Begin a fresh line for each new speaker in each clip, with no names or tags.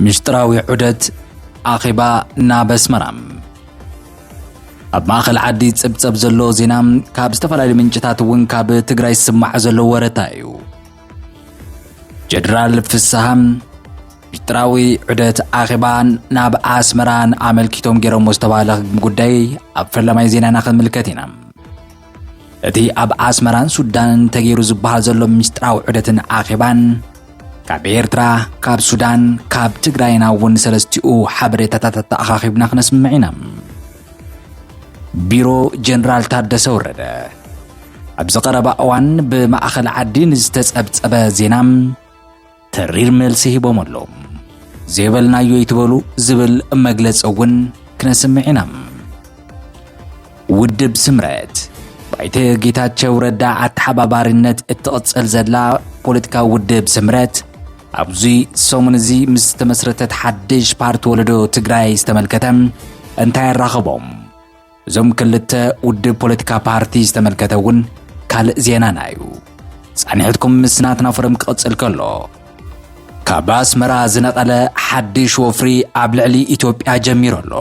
ምስጢራዊ ዑደት ኣኼባ ናብ ኣስመራ ኣብ ማእኸል ዓዲ ጽብጸብ ዘሎ ዜና ካብ ዝተፈላለዩ ምንጭታት እውን ካብ ትግራይ ዝስማዕ ዘሎ ወረታ እዩ ጀነራል ፍስሃ ምስጢራዊ ዑደት ኣኼባን ናብ ኣስመራን ኣመልኪቶም ገይሮሞ ዝተባህለ ጉዳይ ኣብ ፈለማይ ዜናና ክንምልከት ኢና እቲ ኣብ ኣስመራን ሱዳንን ተገይሩ ዝበሃል ዘሎ ምስጢራዊ ዑደትን ኣኼባን ካብ ኤርትራ ካብ ሱዳን ካብ ትግራይና እውን ሰለስቲኡ ሓበሬታታት ኣተኣኻኺብና ክነስምዕ ኢና ቢሮ ጀነራል ታደሰ ወረደ ኣብዚ ቀረባ እዋን ብማእኸል ዓዲ ንዝተጸብጸበ ዜና ተሪር መልሲ ሂቦም ኣለዉ። ዘይበልናዮ ይትበሉ ዝብል መግለፂ እውን ክነስምዕ ኢና። ውድብ ስምረት ባይተ ጌታቸው ረዳ ኣተሓባባሪነት እትቕፅል ዘላ ፖለቲካዊ ውድብ ስምረት ኣብዚ ሰሙን እዚ ምስ ዝተመስረተት ሓድሽ ፓርቲ ወለዶ ትግራይ ዝተመልከተ እንታይ ኣራኸቦም? እዞም ክልተ ውድብ ፖለቲካ ፓርቲ ዝተመልከተ እውን ካልእ ዜናና እዩ ጻኒሕትኩም ምስ ናትና ፎረም ክቕጽል ከሎ ካብ ኣስመራ ዝነቐለ ሓድሽ ወፍሪ ኣብ ልዕሊ ኢትዮጵያ ጀሚሩ ኣሎ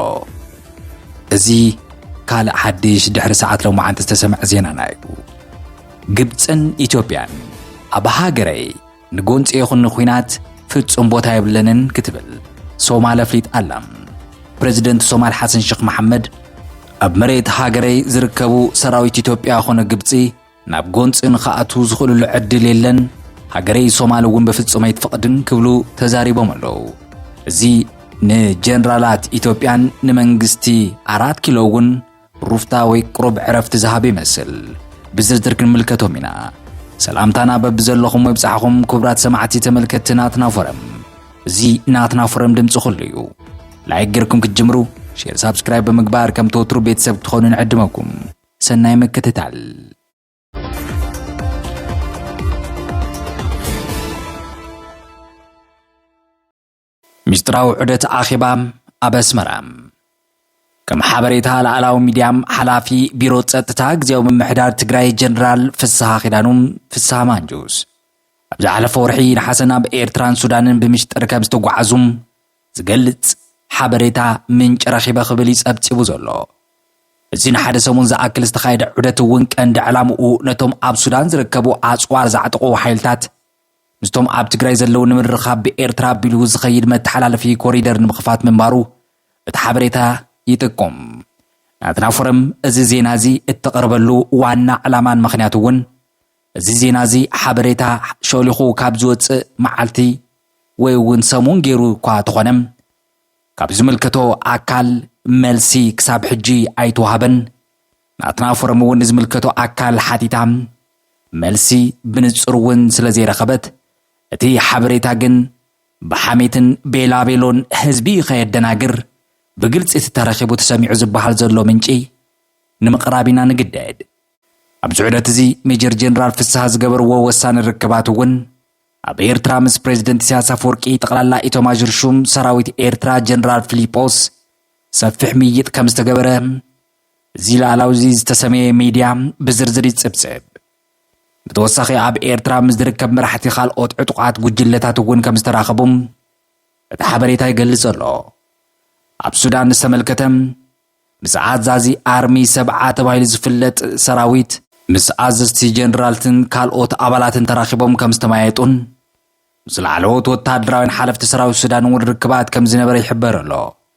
እዚ ካልእ ሓድሽ ድሕሪ ሰዓት ሎማዓንቲ ዝተሰምዐ ዜናና እዩ ግብፅን ኢትዮጵያን ኣብ ሃገረይ ንጎንፂ ይኹን ንኩናት ፍጹም ቦታ የብለንን ክትብል ሶማል ኣፍሊጥ ኣላ። ፕረዚደንት ሶማል ሓሰን ሸኽ መሓመድ ኣብ መሬት ሃገረይ ዝርከቡ ሰራዊት ኢትዮጵያ ኮነ ግብፂ ናብ ጎንፂ ንክኣትዉ ዝኽእልሉ ዕድል የለን፣ ሃገረይ ሶማል እውን በፍጹም ኣይትፈቕድን ክብሉ ተዛሪቦም ኣለዉ። እዚ ንጀነራላት ኢትዮጵያን ንመንግስቲ ኣራት ኪሎ እውን ሩፍታ ወይ ቅሩብ ዕረፍቲ ዝሃብ ይመስል። ብዝርዝር ክንምልከቶም ኢና። ሰላምታና በብዘለኹም ይብጻሕኹም ክቡራት ሰማዕቲ ተመልከትቲ ናትና ፎረም። እዚ ናትና ፎረም ድምጺ ኩሉ እዩ። ላይክ ጌርኩም ክትጅምሩ ሼር፣ ሳብስክራይብ ብምግባር ከም ተወትሩ ቤተሰብ ክትኾኑ ንዕድመኩም። ሰናይ ምክትታል። ሚስጥራዊ ዑደት ኣኼባ ኣብ ኣስመራ። ከም ሓበሬታ ላዕላዊ ሚድያ ሓላፊ ቢሮ ጸጥታ ግዜያዊ ምምሕዳር ትግራይ ጀነራል ፍስሃ ኪዳኑ፣ ፍስሃ ማንጁስ፣ ኣብ ዝሓለፈ ወርሒ ነሓሰ ናብ ኤርትራን ሱዳንን ብምሽጥር ከም ዝተጓዓዙ ዝገልጽ ሓበሬታ ምንጪ ረኺበ ክብል እዩ ጸብጺቡ ዘሎ። እዚ ንሓደ ሰሙን ዝኣክል ዝተኻየደ ዑደት እውን ቀንዲ ዕላምኡ ነቶም ኣብ ሱዳን ዝርከቡ ኣጽዋር ዘዕጥቑ ሓይልታት ምስቶም ኣብ ትግራይ ዘለዉ ንምርኻብ ብኤርትራ ኣቢሉ ዝኸይድ መተሓላለፊ ኮሪደር ንምኽፋት ምንባሩ እቲ ሓበሬታ ይጥቁም። ናትና ፎረም እዚ ዜና እዚ እተቕርበሉ ዋና ዕላማን ምኽንያት እውን እዚ ዜና እዚ ሓበሬታ ሸሊኹ ካብ ዝወጽእ መዓልቲ ወይ እውን ሰሙን ገይሩ እኳ ተኾነ ካብ ዝምልከቶ ኣካል መልሲ ክሳብ ሕጂ ኣይተዋህበን። ናትና ፎረም እውን ንዝምልከቶ ኣካል ሓቲታ መልሲ ብንጹር እውን ስለ ዘይረኸበት እቲ ሓበሬታ ግን ብሓሜትን ቤላቤሎን ህዝቢ ከየደናግር ብግልጺ እቲ ተረኺቡ ተሰሚዑ ዝበሃል ዘሎ ምንጪ ንምቕራብ ኢና ንግደድ። ኣብዚ ዑደት እዚ ሜጀር ጀነራል ፍስሃ ዝገበርዎ ወሳኒ ርክባት እውን ኣብ ኤርትራ ምስ ፕሬዚደንት ኢሳያስ ኣፈወርቂ ጠቕላላ ኢቶማዦር ሹም ሰራዊት ኤርትራ ጀነራል ፊሊጶስ ሰፊሕ ምይይጥ ከም ዝተገበረ እዚ ልኣላዊ'ዚ ዝተሰመየ ሚድያ ብዝርዝር ይጽብጽብ። ብተወሳኺ ኣብ ኤርትራ ምስ ዝርከብ መራሕቲ ካልኦት ዕጡቓት ጉጅለታት እውን ከም ዝተራኸቡ እቲ ሓበሬታ ይገልጽ ኣሎ። ኣብ ሱዳን ዝተመልከተ ምስ ኣዛዚ ኣርሚ ሰብዓ ተባሂሉ ዝፍለጥ ሰራዊት፣ ምስ ኣዘዝቲ ጀነራልትን ካልኦት ኣባላትን ተራኺቦም ከም ዝተመያየጡን ምስ ላዕለዎት ወተሃደራውያን ሓለፍቲ ሰራዊት ሱዳን እውን ርክባት ከም ዝነበረ ይሕበር ኣሎ።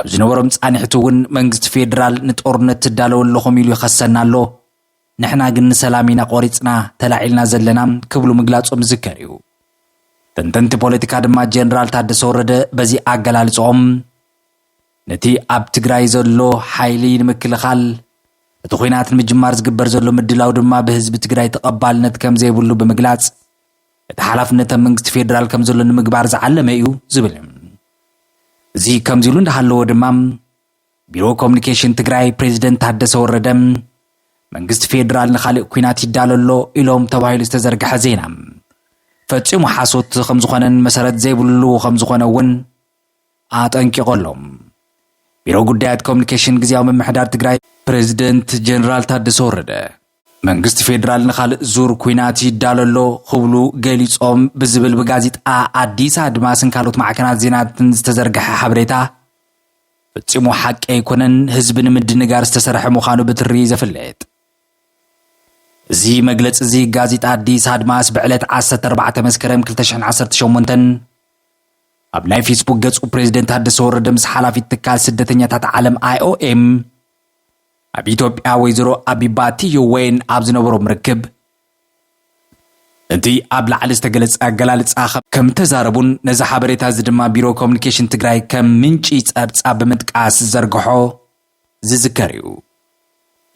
ኣብ ዝነበሮም ፃንሒቱ እውን መንግስቲ ፌዴራል ንጦርነት ትዳለዉ ኣለኹም ኢሉ ይኸሰና ኣሎ፣ ንሕና ግን ንሰላም ኢና ቆሪፅና ተላዒልና ዘለና ክብሉ ምግላፆም ዝዝከር እዩ። ተንተንቲ ፖለቲካ ድማ ጀነራል ታደሰ ወረደ በዚ ኣገላልፅኦም ነቲ ኣብ ትግራይ ዘሎ ሓይሊ ንምክልኻል እቲ ኹናት ንምጅማር ዝግበር ዘሎ ምድላው ድማ ብህዝቢ ትግራይ ተቐባልነት ከምዘይብሉ ብምግላፅ እቲ ሓላፍነት ኣብ መንግስቲ ፌዴራል ከም ዘሎ ንምግባር ዝዓለመ እዩ ዝብል እዚ ከምዚ ኢሉ እንዳሃለዎ ድማ ቢሮ ኮሚኒኬሽን ትግራይ ፕሬዚደንት ታደሰ ወረደ መንግስቲ ፌዴራል ንካልእ ኩናት ይዳሎ ኣሎ ኢሎም ተባሂሉ ዝተዘርግሐ ዜና ፈፂሙ ሓሶት ከም ዝኾነን መሰረት ዘይብሉ ከም ዝኾነ እውን ኣጠንቂቖ ኣሎ ቢሮ ጉዳያት ኮሚኒኬሽን ግዜያዊ ምምሕዳር ትግራይ ፕሬዚደንት ጀነራል ታደሰ ወረደ መንግስቲ ፌዴራል ንኻልእ ዙር ኩናት ይዳሎ ኣሎ ክብሉ ገሊፆም ብዝብል ብጋዜጣ ኣዲስ ኣድማስን ካልኦት ማዕከናት ዜናትን ዝተዘርግሐ ሓበሬታ ፈፂሙ ሓቂ ኣይኮነን፣ ህዝቢ ንምድንጋር ዝተሰርሐ ምዃኑ ብትሪ ዘፍልጥ እዚ መግለፂ እዚ ጋዜጣ ኣዲስ ኣድማስ ብዕለት 14 መስከረም 218 ኣብ ናይ ፌስቡክ ገፁ ፕሬዚደንት ታደሰ ወረደ ምስ ሓላፊት ትካል ስደተኛታት ዓለም ኣይኦኤም ኣብ ኢትዮጵያ ወይዘሮ ኣቢባ ቲዮ ወይን ኣብ ዝነበሮም ርክብ እቲ ኣብ ላዕሊ ዝተገለጸ ኣገላልጻ ከም እተዛረቡን ነዚ ሓበሬታ እዚ ድማ ቢሮ ኮሚኒኬሽን ትግራይ ከም ምንጪ ጸብጻብ ብምጥቃስ ዝዘርግሖ ዝዝከር እዩ።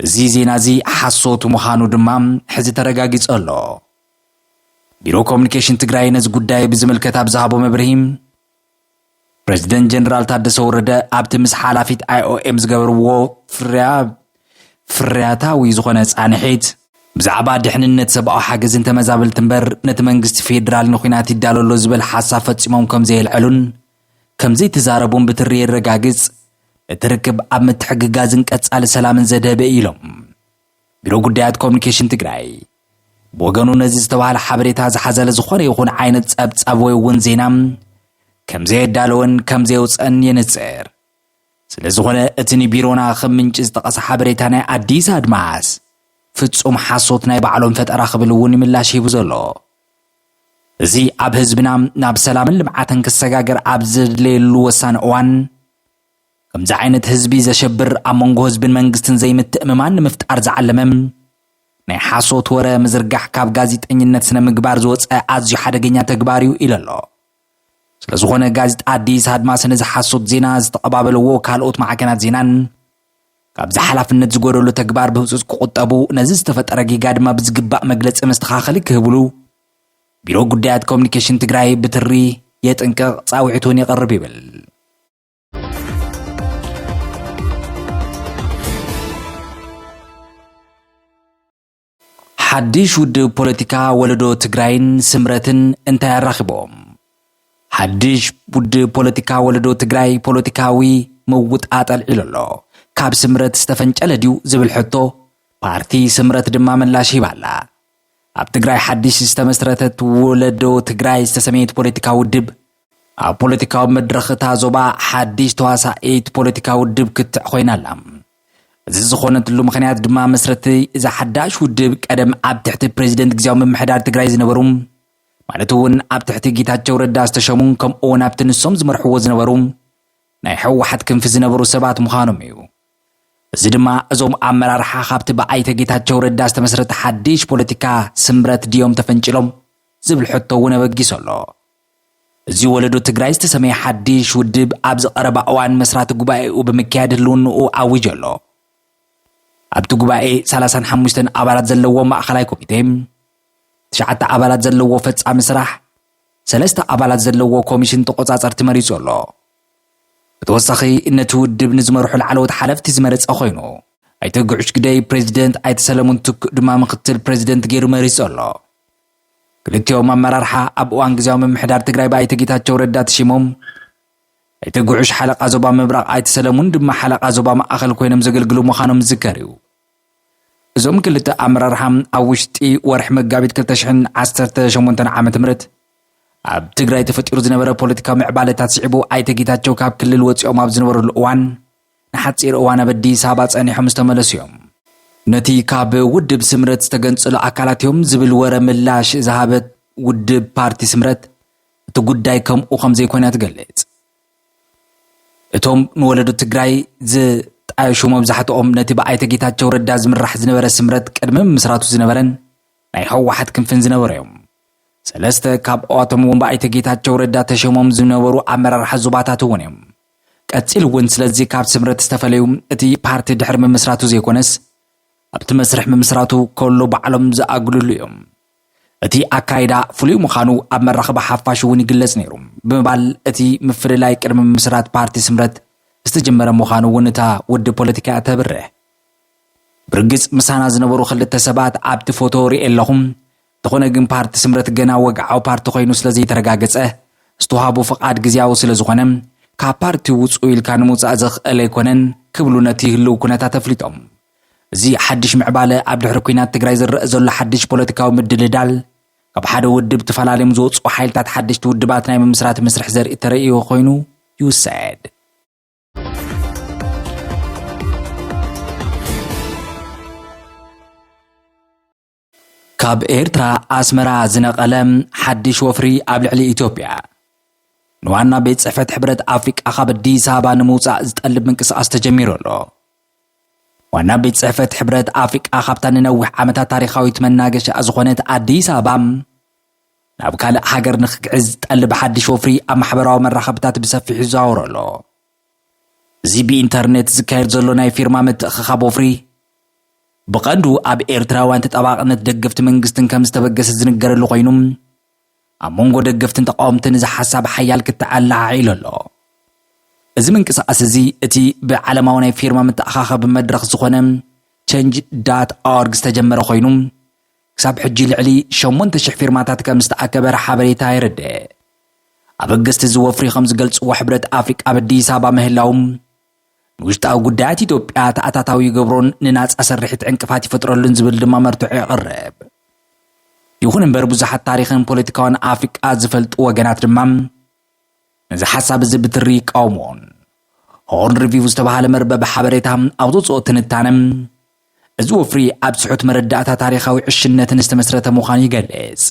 እዚ ዜና እዚ ሓሶት ምዃኑ ድማ ሕዚ ተረጋጊጹ ኣሎ። ቢሮ ኮሚኒኬሽን ትግራይ ነዚ ጉዳይ ብዝምልከት ኣብ ዝሃቦ መብርሂ ፕረዚደንት ጀነራል ታደሰ ወረደ ኣብቲ ምስ ሓላፊት ኣይኦኤም ዝገበርዎ ፍርያ ፍርያታዊ ዝኾነ ፃንሒት ብዛዕባ ድሕንነት ሰብኣዊ ሓገዝን ተመዛበልቲ እምበር ነቲ መንግስቲ ፌዴራል ንኩናት ይዳሎ ኣሎ ዝበል ሓሳብ ፈፂሞም ከም ዘየልዐሉን ከም ዘይተዛረቡን ብትሪ የረጋግፅ እቲ ርክብ ኣብ ምትሕግጋዝን ቀፃሊ ሰላምን ዘድሀበ እዩ ኢሎም ቢሮ ጉዳያት ኮሚኒኬሽን ትግራይ ብወገኑ ነዚ ዝተባህለ ሓበሬታ ዝሓዘለ ዝኾነ ይኹን ዓይነት ጸብጻብ ወይ እውን ዜና ከምዘየዳለወን ከምዘየውፀን የንጽር። ስለ ዝኾነ እቲ ንቢሮና ከም ምንጪ ዝጠቐሰ ሓበሬታ ናይ ኣዲስ ኣድማስ ፍጹም ሓሶት ናይ ባዕሎም ፈጠራ ክብል እውን ምላሽ ሂቡ ዘሎ እዚ ኣብ ህዝብና ናብ ሰላምን ልምዓትን ክሰጋገር ኣብ ዘድለየሉ ወሳኒ እዋን ከምዚ ዓይነት ህዝቢ ዘሸብር ኣብ መንጎ ህዝብን መንግስትን ዘይምትእምማን ንምፍጣር ዝዓለመ ናይ ሓሶት ወረ ምዝርጋሕ ካብ ጋዜጠኝነት ስነ ምግባር ዝወፀ ኣዝዩ ሓደገኛ ተግባር እዩ ኢሉ ኣሎ። ስለ ዝኾነ ጋዜጣ ኣዲስ ኣድማስ ነዚ ሓሶት ዜና ዝተቐባበለዎ ካልኦት ማዕከናት ዜናን ካብዚ ሓላፍነት ዝጎደሉ ተግባር ብህፁፅ ክቑጠቡ ነዚ ዝተፈጠረ ጌጋ ድማ ብዝግባእ መግለፂ መስተኻኸሊ ክህብሉ ቢሮ ጉዳያት ኮሚኒኬሽን ትግራይ ብትሪ የጥንቅቕ ፃውዒት እውን የቕርብ ይብል። ሓድሽ ውድብ ፖለቲካ ወለዶ ትግራይን ስምረትን እንታይ ኣራኺቦም? ሓድሽ ውድብ ፖለቲካ ወለዶ ትግራይ ፖለቲካዊ ምውጣጥ ኣልዒሉ ኣሎ። ካብ ስምረት ዝተፈንጨለ ድዩ ዝብል ሕቶ ፓርቲ ስምረት ድማ ምላሽ ሂባ ኣላ። ኣብ ትግራይ ሓድሽ ዝተመስረተት ወለዶ ትግራይ ዝተሰመየት ፖለቲካ ውድብ ኣብ ፖለቲካዊ መድረኽ እታ ዞባ ሓድሽ ተዋሳኢት ፖለቲካ ውድብ ክትዕ ኮይና ኣላ። እዚ ዝኾነትሉ ምክንያት ድማ መስረቲ እዛ ሓዳሽ ውድብ ቀደም ኣብ ትሕቲ ፕሬዚደንት ግዜያዊ ምምሕዳር ትግራይ ዝነበሩ ማለት እውን ኣብ ትሕቲ ጌታቸው ረዳ ዝተሸሙ ከምኡ እውን ኣብቲ ንሶም ዝመርሕዎ ዝነበሩ ናይ ሕወሓት ክንፊ ዝነበሩ ሰባት ምዃኖም እዩ እዚ ድማ እዞም ኣመራርሓ ካብቲ ብኣይተ ጌታቸው ረዳ ዝተመስረተ ሓድሽ ፖለቲካ ስምረት ድዮም ተፈንጭሎም ዝብል ሕቶ እውን ኣበጊሶ ኣሎ እዚ ወለዶ ትግራይ ዝተሰመየ ሓድሽ ውድብ ኣብዚ ቀረባ እዋን መስራቲ ጉባኤኡ ብምክያድ ህልውንኡ ኣዊጁ ኣሎ። ኣብቲ ጉባኤ ሰላሳን ሓሙሽተን ኣባላት ዘለዎ ማእኸላይ ኮሚቴ፣ ትሽዓተ ኣባላት ዘለዎ ፈፃሚ ስራሕ፣ ሰለስተ ኣባላት ዘለዎ ኮሚሽን ተቆፃፀርቲ መሪፁ ኣሎ። ብተወሳኺ ነቲ ውድብ ንዝመርሑ ላዕለዎት ሓለፍቲ ዝመረፀ ኮይኑ፣ ኣይተ ግዑሽ ግደይ ፕሬዚደንት፣ ኣይተ ሰለሙን ትኩእ ድማ ምኽትል ፕሬዚደንት ገይሩ መሪፁ ኣሎ። ክልቲኦም ኣመራርሓ ኣብ እዋን ግዝያዊ ምምሕዳር ትግራይ ብኣይተ ጌታቸው ረዳ ተሺሞም፣ እቲ ጉዑሽ ሓለቓ ዞባ ምብራቕ ኣይተ ሰለሙን ድማ ሓለቓ ዞባ ማእኸል ኮይኖም ዘገልግሉ ምዃኖም ዝዝከር እዩ። እዞም ክልተ ኣመራርሓ ኣብ ውሽጢ ወርሒ መጋቢት ክልተ ሽሕን ዓሰርተ ሸሞንተን ዓመተ ምህረት ኣብ ትግራይ ተፈጢሩ ዝነበረ ፖለቲካዊ ምዕባለታት ስዒቡ ኣይተ ጌታቸው ካብ ክልል ወፂኦም ኣብ ዝነበረሉ እዋን ንሓጺር እዋን ኣብ ኣዲስ ኣበባ ጸኒሖም ዝተመለሱ እዮም። ነቲ ካብ ውድብ ስምረት ዝተገንጸሉ ኣካላት እዮም ዝብል ወረ ምላሽ ዝሃበት ውድብ ፓርቲ ስምረት፣ እቲ ጉዳይ ከምኡ ከም ዘይኮነ እያ ትገልጽ። እቶም ንወለዶ ትግራይ ዝ ጣየሹ መብዛሕትኦም ነቲ ብኣይተ ጌታቸው ረዳ ዝምራሕ ዝነበረ ስምረት ቅድሚ ምምስራቱ ዝነበረን ናይ ህወሓት ክንፍን ዝነበሩ እዮም። ሰለስተ ካብኣቶም እውን ብኣይተ ጌታቸው ረዳ ተሸሞም ዝነበሩ ኣመራርሓ ዞባታት እውን እዮም። ቀጺሉ እውን ስለዚ ካብ ስምረት ዝተፈለዩ እቲ ፓርቲ ድሕሪ ምምስራቱ ዘይኮነስ ኣብቲ መስርሕ ምምስራቱ ከሎ ባዕሎም ዝኣግልሉ እዮም። እቲ ኣካይዳ ፍሉይ ምዃኑ ኣብ መራኸቢ ሓፋሽ እውን ይግለጽ ነይሩ ብምባል እቲ ምፍልላይ ቅድሚ ምምስራት ፓርቲ ስምረት ዝተጀመረ ምዃኑ እውን እታ ውድብ ፖለቲካ እያ ተብርህ። ብርግጽ ምሳና ዝነበሩ ክልተ ሰባት ኣብቲ ፎቶ ርእየ ኣለኹ፣ እንተኾነ ግን ፓርቲ ስምረት ገና ወግዓዊ ፓርቲ ኮይኑ ስለዘይተረጋገፀ ዝተውሃቦ ፍቓድ ግዝያዊ ስለዝኾነ ካብ ፓርቲ ውፅኡ ኢልካ ንምውፃእ ዘኽእል ኣይኮነን ክብሉ ነቲ ህልው ኩነታት ኣፍሊጦም። እዚ ሓድሽ ምዕባለ ኣብ ድሕሪ ኩናት ትግራይ ዝረአ ዘሎ ሓድሽ ፖለቲካዊ ምድልዳል ካብ ሓደ ውድብ ተፈላለዮም ዝወፅኡ ሓይልታት ሓደሽቲ ውድባት ናይ ምምስራት መስርሕ ዘርኢ ተረእዮ ኮይኑ ይውሰድ ካብ ኤርትራ ኣስመራ ዝነቐለ ሓድሽ ወፍሪ ኣብ ልዕሊ ኢትዮጵያ ንዋና ቤት ጽሕፈት ሕብረት ኣፍሪቃ ካብ ኣዲስ ኣበባ ንምውጻእ ዝጠልብ ምንቅስቓስ ተጀሚሩ ኣሎ። ዋና ቤት ጽሕፈት ሕብረት ኣፍሪቃ ካብታ ንነዊሕ ዓመታት ታሪኻዊት መናገሻ ዝኾነት ኣዲስ ኣበባ ናብ ካልእ ሃገር ንክግዕዝ ዝጠልብ ሓድሽ ወፍሪ ኣብ ማሕበራዊ መራኸብታት ብሰፊሑ ይዘዋወሮ ኣሎ። እዚ ብኢንተርነት ዝካየድ ዘሎ ናይ ፊርማ ምትእኽኻብ ወፍሪ፣ ብቐንዱ ኣብ ኤርትራውያን ተጣባቕነት ደገፍቲ መንግስትን ከም ዝተበገሰ ዝንገረሉ ኮይኑ፣ ኣብ መንጎ ደገፍትን ተቓወምትን እዚ ሓሳብ ሓያል ክትዕ ኣለዓዒሉ ኣሎ። እዚ ምንቅስቓስ እዚ እቲ ብዓለማዊ ናይ ፊርማ መተኣኻኸቢ መድረኽ ዝኾነ ቸንጅ ዳት ኦርግ ዝተጀመረ ኮይኑ፣ ክሳብ ሕጂ ልዕሊ ሸሞንተ ሽሕ ፊርማታት ከም ዝተኣከበ ሓበሬታ የረድእ። ኣበገስቲ እዚ ወፍሪ ከም ዝገልጽዎ ሕብረት ኣፍሪቃ ኣብ ኣዲስ ኣበባ ምህላዉ ንውሽጣዊ ጉዳያት ኢትዮጵያ ተኣታታዊ ይገብሮን ንናጻ ስርሒት ዕንቅፋት ይፈጥረሉን ዝብል ድማ መርትዖ የቕርብ። ይኹን እምበር ብዙሓት ታሪኽን ፖለቲካውን ኣፍሪቃ ዝፈልጡ ወገናት ድማ ነዚ ሓሳብ እዚ ብትሪ ይቃወምዎን። ሆርን ሪቪው ዝተባህለ መርበብ ሓበሬታ ኣብ ዘውጽኦ ትንታነ፣ እዚ ወፍሪ ኣብ ትሑት መረዳእታ ታሪኻዊ ዕሽነትን ዝተመስረተ ምዃኑ ይገልጽ።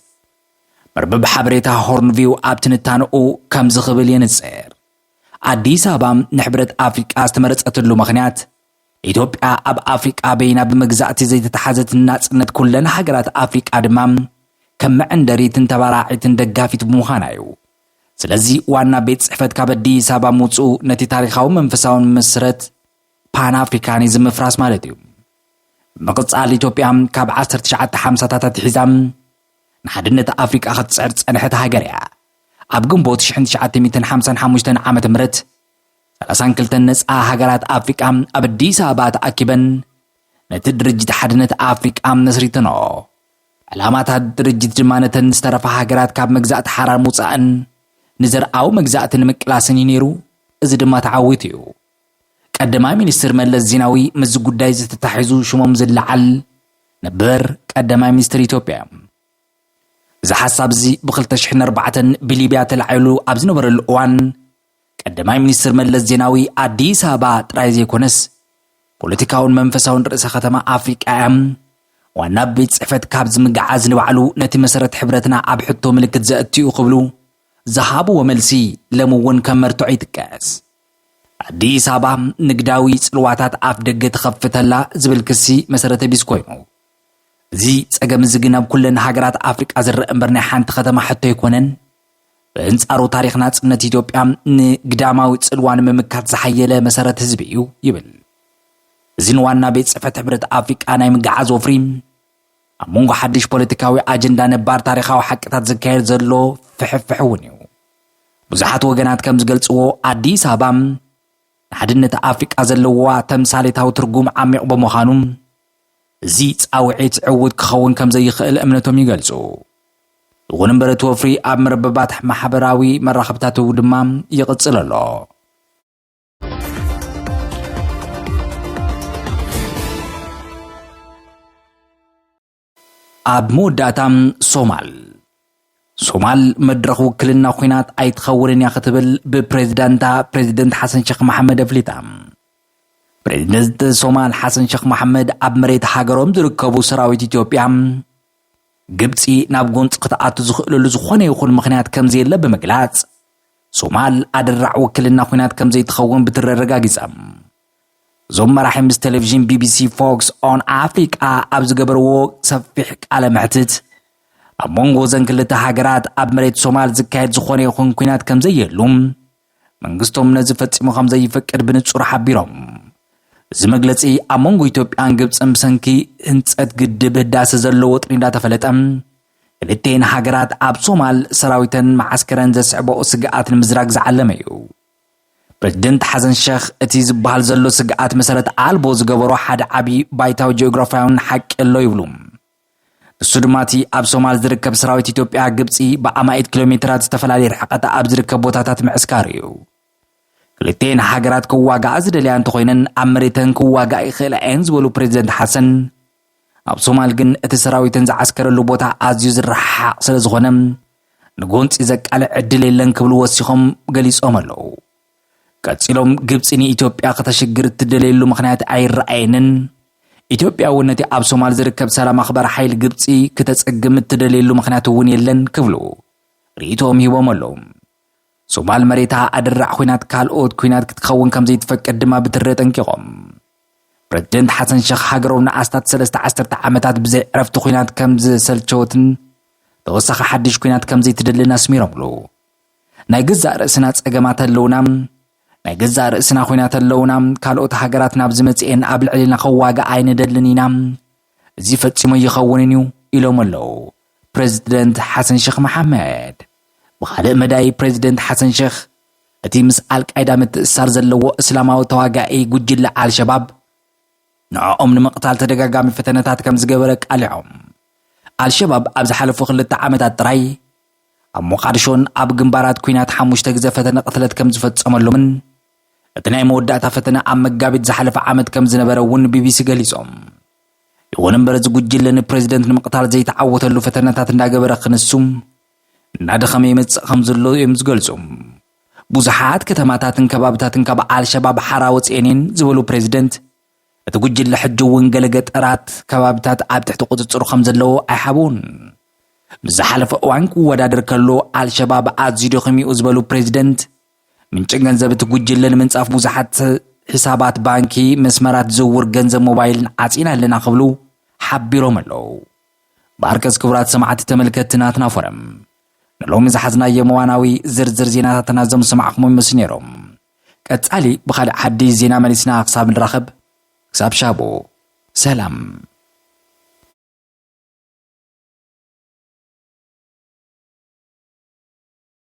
መርበብ ሓበሬታ ሆርን ቪው ኣብ ትንታነኡ ከምዚ ክብል የንጽር። ኣዲስ ኣበባ ንሕብረት ኣፍሪቃ ዝተመረጸትሉ ምኽንያት ኢትዮጵያ ኣብ ኣፍሪቃ በይና ብመግዛእቲ ዘይተታሓዘትን ናጽነት ኩለን ሃገራት ኣፍሪቃ ድማ ከም መዐንደሪትን ተባራዒትን ደጋፊት ብምዃና እዩ። ስለዚ ዋና ቤት ጽሕፈት ካብ ኣዲስ ኣበባ ምውጽኡ ነቲ ታሪኻዊ መንፈሳውን ምስረት ፓን ኣፍሪካኒዝም ምፍራስ ማለት እዩ። ብምቕጻል ኢትዮጵያ ካብ 1950ታት ኣትሒዛ ንሓድነት ኣፍሪቃ ክትጽዕር ዝጸንሐት ሃገር እያ። ኣብ ግንቦት 1955 ዓ ም ሰላሳን ክልተን ነጻ ሃገራት ኣፍሪቃ ኣብ ኣዲስ ኣበባ ተኣኪበን ነቲ ድርጅት ሓድነት ኣፍሪቃ መስሪተኖ። ዕላማታት ድርጅት ድማ ነተን ዝተረፋ ሃገራት ካብ መግዛእቲ ሓራር ምውጻእን ንዘርኣዊ መግዛእቲ ንምቅላስን እዩ ነይሩ እዚ ድማ ተዓዊቱ እዩ ቀዳማይ ሚኒስትር መለስ ዜናዊ ምስዚ ጉዳይ እዚ ተታሒዙ ሽሞም ዝለዓል ነበር ቀዳማይ ሚኒስትር ኢትዮጵያ እዮም እዚ ሓሳብ እዚ ብ204 ብሊብያ ተላዒሉ ኣብ ዝነበረሉ እዋን ቀዳማይ ሚኒስትር መለስ ዜናዊ ኣዲስ ኣበባ ጥራይ ዘይኮነስ ፖለቲካውን መንፈሳውን ርእሰ ከተማ ኣፍሪቃ እያ። ዋና ቤት ጽሕፈት ካብ ዝምግዓዝ ንባዕሉ ነቲ መሰረት ሕብረትና ኣብ ሕቶ ምልክት ዘእትዩ ክብሉ ዝሃብዎ መልሲ ለም እውን ከም መርትዖ ይጥቀስ። ኣዲስ ኣበባ ንግዳዊ ጽልዋታት ኣፍ ደገ ትኸፍተላ ዝብል ክሲ መሰረተ ቢስ ኮይኑ እዚ ጸገም እዚ ግን ኣብ ኩለን ሃገራት ኣፍሪቃ ዝረአ እምበር ናይ ሓንቲ ከተማ ሕቶ ኣይኮነን ብእንጻሩ ታሪኽ ናጽነት ኢትዮጵያ ንግዳማዊ ጽልዋ ንምምካት ዝሓየለ መሰረት ህዝቢ እዩ ይብል። እዚ ንዋና ቤት ጽሕፈት ሕብረት ኣፍሪቃ ናይ ምግዓዝ ወፍሪ ኣብ መንጎ ሓድሽ ፖለቲካዊ ኣጀንዳ ነባር ታሪኻዊ ሓቅታት ዝካየድ ዘሎ ፍሕፍሕ እውን እዩ ብዙሓት ወገናት ከም ዝገልጽዎ ኣዲስ ኣበባ ንሓድነት ኣፍሪቃ ዘለዋ ተምሳሌታዊ ትርጉም ዓሚቕ ብምዃኑ እዚ ጻውዒት ዕዉት ክኸውን ከም ዘይኽእል እምነቶም ይገልጹ። ይኹን እምበር እቲ ወፍሪ ኣብ መርበባት ማሕበራዊ መራኸብታት'ው ድማ ይቕጽል ኣሎ። ኣብ መወዳእታ ሶማል ሶማል መድረኽ ውክልና ኹናት ኣይትኸውንን እያ ክትብል ብፕሬዚዳንታ ፕሬዚደንት ሓሰን ሸኽ መሓመድ ኣፍሊጣ። ፕሬዚደንት ሶማል ሓሰን ሸኽ መሓመድ ኣብ መሬት ሃገሮም ዝርከቡ ሰራዊት ኢትዮጵያ ግብፂ ናብ ጎንፂ ክትኣቱ ዝኽእለሉ ዝኾነ ይኹን ምኽንያት ከምዘየለ ብምግላፅ ሶማል ኣደራዕ ውክልና ኩናት ከምዘይትኸውን ብትረረጋጊፃ እዞም መራሒ ምስ ቴሌቭዥን ቢቢሲ ፎክስ ኦን ኣፍሪቃ ኣብ ዝገበርዎ ሰፊሕ ቃለ መሕትት ኣብ መንጎ እዘን ክልተ ሃገራት ኣብ መሬት ሶማል ዝካየድ ዝኾነ ይኹን ኩናት ከም ዘየሉ መንግስቶም ነዚ ፈጺሙ ከም ዘይፈቅድ ብንጹር ሓቢሮም እዚ መግለጺ ኣብ መንጎ ኢትዮጵያን ግብፅን ብሰንኪ ህንፀት ግድብ ህዳሴ ዘሎ ወጥሪ እንዳተፈለጠ ክልተን ሃገራት ኣብ ሶማል ሰራዊተን መዓስከረን ዘስዕበኦ ስግኣት ንምዝራግ ዝዓለመ እዩ ፕረዚደንት ሓሰን ሸኽ እቲ ዝበሃል ዘሎ ስግኣት መሰረት ኣልቦ ዝገበሮ ሓደ ዓብዪ ባይታዊ ጂኦግራፍያውን ሓቂ ኣሎ ይብሉ። ንሱ ድማ እቲ ኣብ ሶማል ዝርከብ ሰራዊት ኢትዮጵያ ግብፂ ብኣማኢት ኪሎ ሜትራት ዝተፈላለየ ርሕቐት ኣብ ዝርከብ ቦታታት ምዕስካሩ እዩ። ክልቴን ሃገራት ክዋጋኣ ዝደልያ እንተኾይነን ኣብ መሬተን ክዋጋእ ይኽእላ እየን ዝበሉ ፕሬዚደንት ሓሰን ኣብ ሶማል ግን እቲ ሰራዊተን ዝዓስከረሉ ቦታ ኣዝዩ ዝረሓሓቕ ስለ ዝኾነ ንጎንፂ ዘቃልዕ ዕድል የለን ክብሉ ወሲኾም ገሊፆም ኣለዉ። ቀፂሎም ግብፂ ንኢትዮጵያ ከተሽግር እትደለየሉ ምኽንያት ኣይረኣየንን፣ ኢትዮጵያ እውን ነቲ ኣብ ሶማል ዝርከብ ሰላም ኣኽባሪ ሓይሊ ግብፂ ክተፀግም እትደለየሉ ምኽንያት እውን የለን ክብሉ ርእይቶኦም ሂቦም ኣለዉ። ሶማል መሬታ ኣደራዕ ኩናት ካልኦት ኩናት ክትኸውን ከም ዘይትፈቅድ ድማ ብትሪ ኣጠንቂቖም። ፕረዚደንት ሓሰን ሸኽ ሃገሮም ንኣስታት ሰለስተ ዓሰርተ ዓመታት ብዘይ ዕረፍቲ ኩናት ከም ዝሰልቸወትን ተወሳኺ ሓድሽ ኩናት ከም ዘይትደልን ኣስሚሮምሉ። ናይ ገዛእ ርእስና ጸገማት ኣለውና ናይ ገዛእ ርእስና ኮይናት ኣለውና ካልኦት ሃገራት ናብ ዝመጽኤን ኣብ ልዕሊና ከዋግእ ኣይንደልን ኢና እዚ ፈፂሙ ኣይኸውንን እዩ ኢሎም ኣለው ፕረዚደንት ሓሰን ሸኽ መሓመድ። ብኻልእ መዳይ ፕረዚደንት ሓሰን ሸኽ እቲ ምስ ኣልቃይዳ ምትእስሳር ዘለዎ እስላማዊ ተዋጋኢ ጉጅለ ኣልሸባብ ንዕኦም ንምቕታል ተደጋጋሚ ፈተነታት ከምዝገበረ ኣቃሊዖም። ኣልሸባብ ኣብ ዝሓለፉ ክልተ ዓመታት ጥራይ ኣብ ሞቓድሾን ኣብ ግንባራት ኲናት ሓሙሽተ ግዘ ፈተነ ቅትለት ከምዝፈፀመሎምን እቲ ናይ መወዳእታ ፈተነ ኣብ መጋቢት ዝሓለፈ ዓመት ከም ዝነበረ እውን ንቢቢሲ ገሊጾም። ይኹን እምበር እዚ ጉጅለ ንፕሬዚደንት ንምቕታል ዘይተዓወተሉ ፈተነታት እንዳገበረ ክንሱ እናደኸመ ይመጽእ ከም ዘሎ እዮም ዝገልጹ። ብዙሓት ከተማታትን ከባብታትን ካብ ኣልሸባብ ሓራ ወፂኤን እየን ዝበሉ ፕሬዚደንት እቲ ጉጅለ ሕጂ እውን ገለ ገጠራት ከባብታት ኣብ ትሕቲ ቁፅፅሩ ከም ዘለዎ ኣይሓብኡን ምስ ዝሓለፈ እዋን ክወዳደር ከሎ ኣልሸባብ ኣዝዩ ደኺሙ ዝበሉ ፕሬዚደንት ምንጪ ገንዘብ እቲ ጉጅለ ንምንጻፍ ብዙሓት ሒሳባት ባንኪ፣ መስመራት ዝውውር ገንዘብ ሞባይልን ዓጺና ኣለና ክብሉ ሓቢሮም ኣለዉ። ባርከስ ክቡራት ሰማዕቲ ተመልከትቲ ናትና ፎረም ንሎሚ ዝሓዝናዮም እዋናዊ ዝርዝር ዜናታትና እዞም ዝሰማዕኹም ይመስሉ ነይሮም። ቀጻሊ ብኻልእ ሓድሽ ዜና መሊስና ክሳብ ንራኸብ ክሳብ ሻቡ ሰላም።